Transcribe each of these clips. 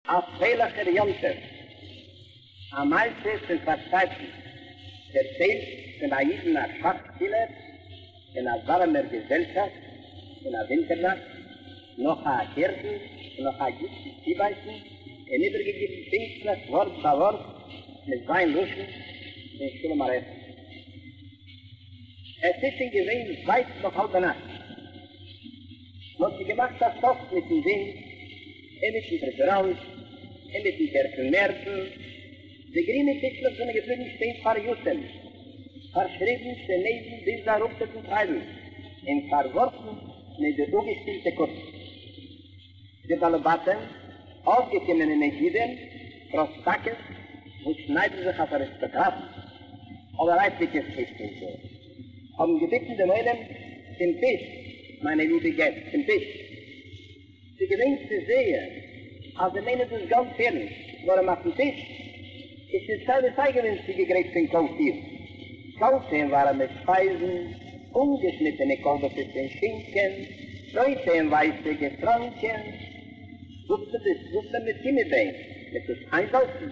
א פרייליכער יום טוב, א מעשה פון פארצייטן, דערציילט פון א אידן א שאך שפילער, אין א ווארעמער געזעלשאפט אין א ווינטער נאכט, נאך א אקערדן און נאך א גוט צובייסן, און איבערגעגעבן פונקטליך ווארט ביי ווארט מיט זיין לשון פון שלום עליכם. עס איז שוין געווען ווייט נאך האלבע נאכט, מען האט שוין געמאכט א סוף מיטן ווינט, אינמיטן דער גראונד, אינמיטן דער פון מערסן, די גרינע טישלעך זענען געבליבן שטיין פאריאסען, פארשריבן צו נעזן ביז די אראפצוטן טרייבל, און פארווארפן מיט די אפגעשפילטע קאפ. די באלעבאטען, אויפגעקומענע נגידים, פראסטאקעס וואס שניידן זיך אויף אריסטאקראטן, אבער אייפריקע טיש-טישער, האבן געביטן דעם עולם, צום טיש, מיינע ליבע געסט, צום טיש! די געדענקסט עס זייער אז זיי מיינען דאס גאנץ ערנסט, נאר און אויפן טיש איז שוין סיי ווי סיי געווען צוגעגרייט פון קאלפיר, קאלטע און ווארעמע שפייזן, אנגעשניטענע קאלבעסעס און שינקען, רויטע און ווייסע געטראנקען, געזאפטע ביסקוויטלעך מיט גומי ביין, מיט וואס איינזאלצן.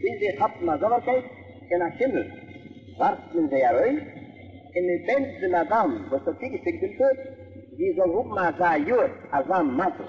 ביז זיי כאפן א זאבערקייט פון א שימל ווארפט מען זיי ארויס און מען בענטשט די מאדאם וואס האט צוגעשיקט דעם טאג, זי זאל האבן אזא יאר, אזא מזל.